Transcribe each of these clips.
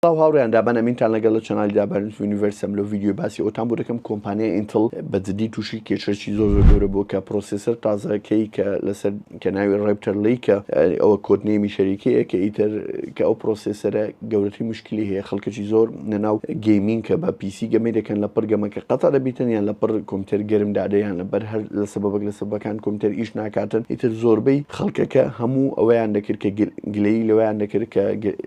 سڵاو هاوڕێیان دابان ئەمینتان لەگەڵ لە چەنالی دابان یونیڤەرسم لەو ڤیدیۆی باسی ئەوتان بۆ دەکەم کۆمپانیای ئینتڵ بە جدی تووشی کێشەی زۆر زۆر گەورە بووە کە پرۆسێسەر تازەکەی کە لەسەر کە ناوی ڕێپتەر لی کە ئەوە کۆدنێمی شەریکەیە کە ئیتر کە ئەو پرۆسێسەرە گەورەتری مشکلی هەیە خەڵکەکی زۆر نەناو گەیمینگ کە بە پیسی گەمەی دەکەن لە پڕ گەمە کە قەتە دەبیتن یان لە پڕ کۆمپیوتەر گەرم دادەیان لەبەر هەر لە سەبەبەک لە سەبەکان کۆمپیوتەر ئیش ناکاتن ئیتر زۆربەی خەڵکەکە هەموو ئەوەیان دەکرد کە گر گلەیی لەوەیان دەکرد کە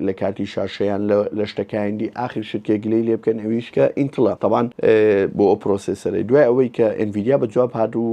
لە کاتی شا شەیان لە شتەکایان دی ئاخر شت کە گلەی لێ بکەن ئەویش کە ئینتڵە تەبان بۆ ئەو پرۆسێسەرەی دوای ئەوەی کە ئێنڤیدیا بە جواب هات و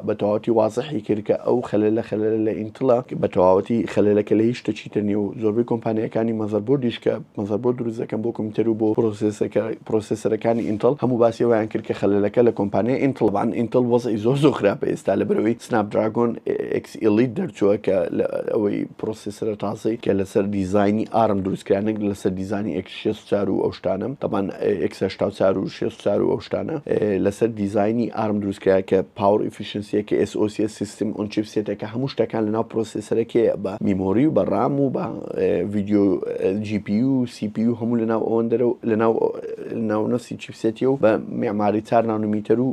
بە تەواوەتی وازحی کرد کە ئەو خەلەلە خەلەلە لە ئینتڵە بە تەواوەتی خەلەلەکە لە هیچ شتەکی تر نیە و زۆربەی کۆمپانیاکانی مەزەربۆردیش کە مەزەربۆرد دروست دەکەن بۆ کۆمپیوتەر و بۆ پرۆسێسەکە پرۆسێسەرەکانی ئینتڵ هەموو باسی ئەوەیان کرد کە خەلەلەکە لە کۆمپانیای ئینتڵ بان ئینتڵ وەزعی زۆر زۆر خراپە ئێستا لەبەرەوەی سناپ دراگۆن ئێکس ئیلیت دەرچووە کە لە ئەوەی پرۆسیسرە تازەی کە لەسەر دیزانی ئارم دروستکرا نەک لەسەر دیزانی ئێکس شێست و چار و ئەو شتانە تەبان ئێکس هەشتا و چار و شێست و چار و ئەو شتانە لەسەر دیزانی ئارم دروستکرا کە پاوەڕ ئیفیشنسیەکە ئێس ئۆ سیە سیستم ئۆن چیپ سێتەکە هەموو شتەکان لەناو پرۆسیسرەکەیە بە میمۆری و بە ڕام و بە ڤیدیۆ جی پی و سی پی و هەموو لەناو ئەوەندەرە و لەناو ناونەسی چیپسێتی و بە معماری چار نانومیتەر و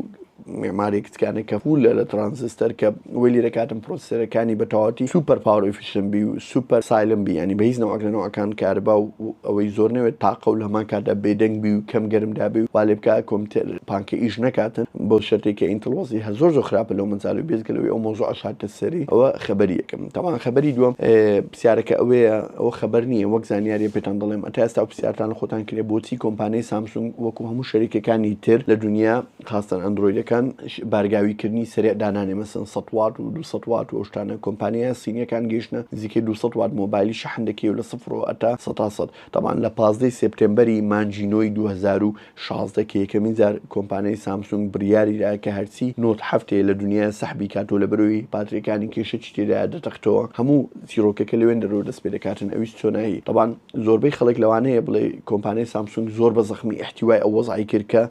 مێماری کچکانە کە فولە لە ترانزستەر کە وەی لێ دەکاتن پرۆسسێرەکانی بە تەواوەتی سوپەر پاوەر ئیفیشن بی و سوپەر سایلم بی یانی بە هیچ نەوعەک لە نەوعەکان کارەبا و ئەوەی زۆر نەوێت تاقە و لە هەمان کاتدا بێدەنگ بی و کەم گەرم دابێ و وا لێ بکا کۆمپیتەر پانکە ئیش نەکاتن بەو شەرتەی کە ئینتڵ وەزعیه زۆر زۆر خراپە لەو مەجالەی بێجگە لەوەی ئەو مەوزوعەش هاتە سەری ئەوە خەبەری یەکەم تەبعەن خەبەری دووەم پرسیارەکە ئەوەیە ئەوە خەبەر نییە وەک زانیاریە پێتان دەڵێم ئەتا ئێستا پرسیارتان لە خۆتان کرێ بۆچی کۆمپانیای سامسونگ وەکو هەموو شەریکەکانی تر لە دونیا خاستەن ئەندرۆیدەکان بارگاوی کردنی سەرێ دانانێ مەسن سە وات و دو سە وات وشتانە کۆمپانیایە سینیەکان گەیشتە نزیکەی دو سە وات مۆبایلی شەحن دەکەی و لە سفرەوە ئەتا سەتا سەد تەبان لە پازدە ی سێپتێمبەری مانجی نۆی دوو هەزار و شازدە کە یەکەمین جار کۆمپانیای سامسونگ بریاری دا کە هەرچی نۆت حەفت هەیە لە دونیایە سەحبی کات و لەبەرەوەی باتریەکانی کێشەکی تێدایە دەتەقتەوە هەموو چیرۆکەکە لەوێن دەرەوە دەست پێدەکاتن ئەویش چۆنایی تەبان زۆربەی خەڵک لەوانەیە بڵێ کۆمپانیای سامسونگ زۆر بە زەخمی ئیحتیوای ئەو وەزعی کرد کە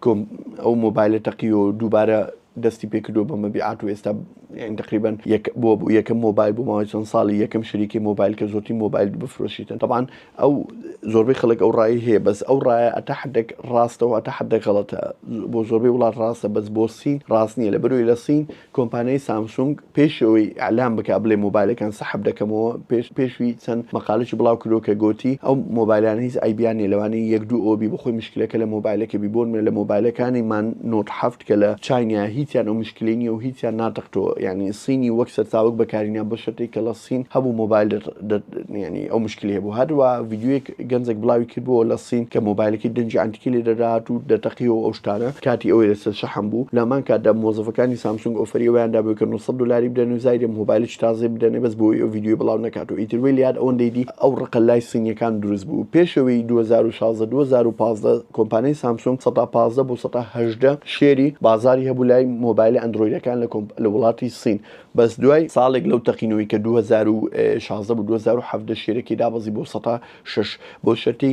ئەو مۆبایلە تەقی و دووبارە دەستی پێکردو بە مەبیعات و ئێستا یعنی تقریبا یەک بۆ بوو یەکەم مۆبایل بۆ ماوەی چەند ساڵی یەکەم شریکی مۆبایل کە زۆرترین مۆبایل بفرۆشیتن طبعا ئەو زۆربەی خەڵک ئەو ڕای هەیە بەس ئەو ڕایە ئەتا حدێک ڕاستەوە تا حدە غەڵەتە بۆ زۆربەی وڵات ڕاستە بەس بۆ سین ڕاست نییە لە بەروی لە سین کۆمپانیای سامسونگ پێش ئەوەی ئیعلان بکات بڵێ مۆبایلەکان سەحب دەکەمەوە پێش پێشوی چەند مەقالەکی بڵاو کردوە کە گۆتی ئەو مۆبایلانە هیچ عەیبیان نیە لەوانەیە یەک دوو ئەوەبی بۆخۆی مشکلەکە لە مۆبایلەکە بی بۆ نمونە لە مۆبایلەکانی من نۆت حەفت کە لە چاینایە هیچیان ئەو مشکلەی نیە و هیچیان ناتەقتەوە یانی صینی وەک سەرچاوەک بەکارینیان بۆ شەرتێک کە لە صین هەبوو مۆبایل یانی ئەو مشکلەی هەبوو هەروە ڤیدیۆیەک گەنجێک بڵاوی کردبووەوە لە سین کە مۆبایلەکەی دەنگی عەنتیکی لێ دەدات و دەتەقیەوە و ئەو شتانە، کاتی ئەوەی لەسەر شەحن بوو، لەهەمان کاتدا مۆزەفەکانی سامسونگ ئۆفەری ئەوەیان دابوو کە نۆ سەد دۆلاری بدەن و زایدێ مهۆبایلێکی تازەی بدەنێ بەس بۆوەی ئەو ڤیدیۆی بڵاو نەکات و ئیتر وەی لەیاد ئەوەندەی دی ئەو ڕقە لای سینیەکان دروست بوو پێشەوەی دوو هەزار و شازدە دوو هەزار و پازدە کۆمپانیای سامسونگ سەتا پازدە بۆ سەتا هەژدە شێری بازاری هەبوو لای مۆبایلە ئەندرۆیدەکان لە وڵاتی سین بەس دوای ساڵێک لەو تەقینەوەی کە دوو هەزار و شازدە بوو دوو هەزار و حەڤدە شێرەکەی دابەزی بۆ سەد و شەش بۆ شەرتی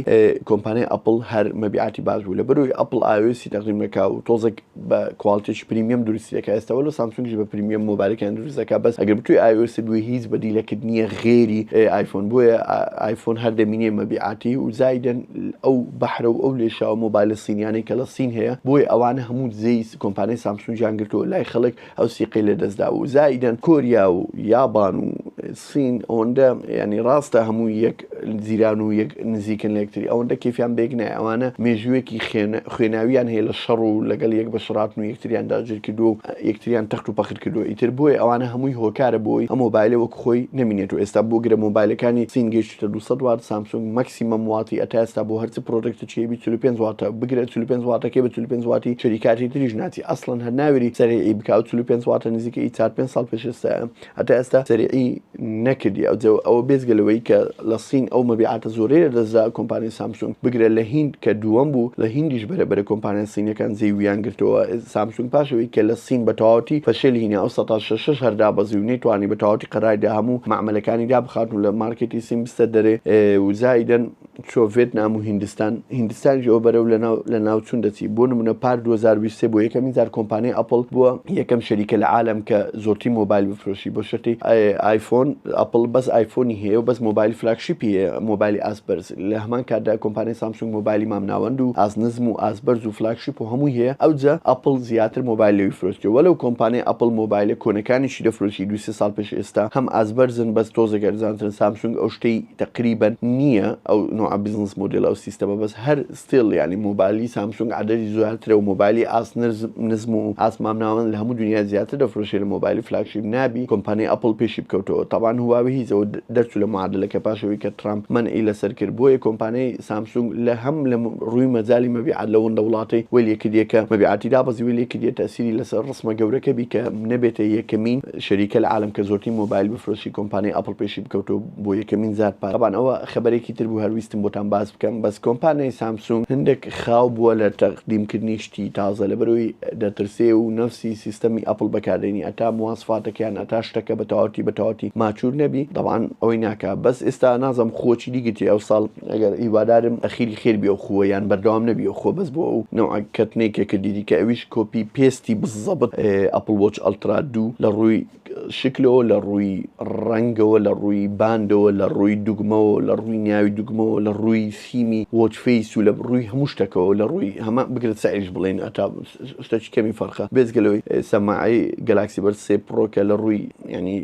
کۆمپانیای ئەپڵ هەر مەبیعاتی باش بوو لەبەرەوەی ئەپڵ ئایۆسی تەقدیم نەکا و تۆزێک بە کواڵتێکی پریمیەم دروستی دەکا ئێستا وەلۆ سامسونگیش بە پریمیەم مۆبایلەکەیان دروست دەکا بەس ئەگەر بتوی ئایۆسی بوی هیچ بەدیلەکەت نییە غێری ئایفۆن بۆیە ئایفۆن هەر دەمینێ مەبیعاتی و زایدن ئەو بەحرە و ئەو لێشاوە مۆبایلە سینیانەی کە لە سین هەیە بۆیە ئەوانە هەموو دزێی کۆمپانیای سامسونگیان گرتووە لای خەڵک ئەو سیقەی لە دەستدا و زائیدەن کۆریا و یابان و سین ئەوەندە یانی ڕاستە هەموو یەک زیران و یەک نزیکن لەکتری ئەوەندە کەفیان بێک نای ئەوانە مێژوویەکی خوێناویان هەیە لە شەڕ و لەگەڵ یەک بە شڕاتن و یەکتریان داگیر کردو و یەکتریان تەخت و پەخر کردو ئیتر بۆیە ئەوانە هەمووی هۆکارە بۆی ئەم مۆبایلە وەک خۆی نەمینێت و ئێستا بۆ گرە مۆبایلەکانی سین تە دوو سەد وات سامسونگ مەکسیمەم واتی ئەتا ئێستا بۆ هەرچ پرۆدەکت چیە بی چل و پێنج واتە بگرە چل و پێنج واتەکەی بە چل و پێنج واتی شریکاتی تریش ناچی ئەسڵەن هەر ناوێری سەریعی بکا ئەو چل و پێنج واتە نزیکەی ئی چار پێنج ساڵ پێش ئێستایە ئەتا ئێستا سەریعی نەکردی ئەوجە ئەوە بێجگە لەوەی کە لە صین ئەو مەبیعاتە زۆرەی لە دەست دا کۆمپانیای سامسونگ بگرە لە هیند کە دووەم بوو لە هیندیش بەرە بەرە کۆمپانیا صینیەکان جێی ویان گرتەوە سامسونگ پاش ئەوەی کە لە صین بە تەواوەتی فەشێل هینی ئەو سەتا شەشەش هەر دابەزی و نەیتوانی بە تەواوەتی قەرای دا هەموو مەعمەلەکانی دابخاتن و لە مارکێتی سین بستە دەرێ و زائیدەن چۆ ڤێتنام و هیندستان، هیندستانیش ئەوە بەرەو لەناو لەناوچوون دەچی. بۆ نموونە پار دوو هەزار و بیست و سێ بۆ یەکەمین جار کۆمپانیای ئەپڵ بووە یەکەم شەریکە لە عالەم کە زۆرترین مۆبایل بفرۆشی بۆ شەرتی ئایفۆن، ئەپڵ بەس ئایفۆنی هەیە و بەس مۆبایلی فلاگشیپی هەیە، مۆبایلی ئاست بەرز. لە هەمان کاتدا کۆمپانیای سامسونگ مۆبایلی مامناوەند و ئاست نزم و ئاست بەرز و فلاگشیپ و هەمووی هەیە، ئەوجە ئەپڵ زیاتر مۆبایل لەوی فرۆشتکرد وەلەو کۆمپانیای ئەپڵ مۆبایلە کۆنەکانیشی دەفرۆشی دوو سێ ساڵ پێش ئێستا هەم ئاست بەرزن بەس تۆزێک ئەرزانترن سامسونگ ئەو شتەی تەقریبەن نییە ئەو نەوعە بزنس مۆدێل ئەو سیستەمە بەس هەر ستیل یانی مۆبایلی سامسونگ عەدەدی زۆیاترە و مۆبایلی ئاست نرز نزم و ئاست مامناوەند لە هەموو دونیا زیاتر دەفرۆشێ لە مۆبایلی فلاگشیپ نابی کۆمپانی ئەپڵ پێشی بکەوتەوە تەبعەن هواوی هیز ئەوە دەرچوو لە معادلەکە پاش ئەوەی کە تڕامپ مەنعی لەسەر کرد بۆیە کۆمپانی سامسونگ لە هەم لە ڕووی مەجالی مەبیعات لە وندە وڵاتەی وەی لێ کردیە کە مەبیعاتی دابەزی وەی لێ کردیە تەئسیری لەسەر ڕسمە گەورەکە بی کە نەبێتە یەکەمین شەریکە لە عالەم کە زۆرترین مۆبایل بفرۆشی کۆمپانی ئەپڵ پێشی بکەوتەوە بۆ یەکەمین جار پار تەبان ئەوە خەبەرێکی تر بوو هەر ویستم بۆتان باس بکەم بەس کۆمپانیای سامسونگ هەندێک خاو بووە لە تەقدیم کردنی شتی تازە لەبەرئەوەی دەترسێ و نەفسی سیستەمی ئەپڵ بەکاردێنی ئەتا مواسفاتەکەیان ئەتا شتەکە بە تەواوەتی بە تەواوەتی ماچور نەبی تەبان ئەوەی ناکا بەس ئێستا نازم خووە چیدی گرتی ئەوساڵ ئەگەر هیوادارم ئەخیری خێر بی ئەو خووە یان بەردەوام نەبی ئەو خووە بەس بۆ ئەو نەوعە کەتنەی کە کردیدی کە ئەویش کۆپی پێستی بززەبت ئەپڵ وۆچ ئەلترا دوو لە ڕووی شکلەوە، لە ڕووی ڕەنگەوە، لە ڕووی باندەوە، لە ڕووی دوگمەوە، لە ڕووی ناوی دوگمەوە، لە ڕووی سیمی وۆچ فەیس و لە ڕووی هەموو شتەکەوە، لە ڕووی هەمە بگرە سعریش بڵێین هەتا شتەکی کەمی فەرقە بێجگە لەوەی سەماعەی گەلاکسی بەرد سێ پڕۆ کە لە ڕووی یانی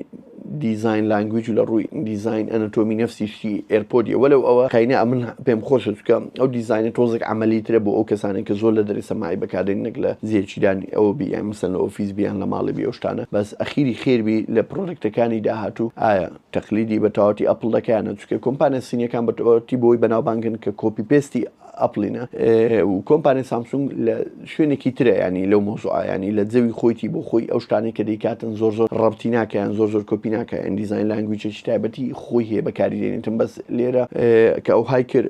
دیزاین لانگویج و لە ڕووی دیزاین ئەنەتۆمی نەفسی شتی ئێرپۆدیە وەلەو ئەوە قەینە ئەمن پێم خۆشە چکە ئەو دیزاینە تۆزێک عەمەلی ترە بۆ ئەو کەسانەی کە زۆر لە دەرێ سەماعی بەکاردێنن نەک لە زێ چیدانی ئەوە بی یان مەسەن لە ئۆفیس بی یان لە ماڵی بی ئەو شتانە بەس ئەخیری خێر بی لە پڕۆدەکتەکانی داهاتوو ئایا تەقلیدی بە تەواوەتی ئەپڵ دەکا یان نە چونکە کۆمپانیا سینیەکان بە تەواوەتی بەوەی بەناوبانگن کە کۆپی پێستی ئەپڵینە و کۆمپانیا سامسونگ لە شوێنێکی ترە ینی لەو مۆزوعیانی لە جەوی خۆیتی بۆ خۆی ئەو شتانی کە دەیکاتن زۆر زۆر ڕەبتی ناکەیان زۆر زۆر کۆپی ناکە ئەندیزین لانگویچێکی تایبەتی خۆی هەیە بەکاری دێنێتم بەس لێرە کە ئەو های کرد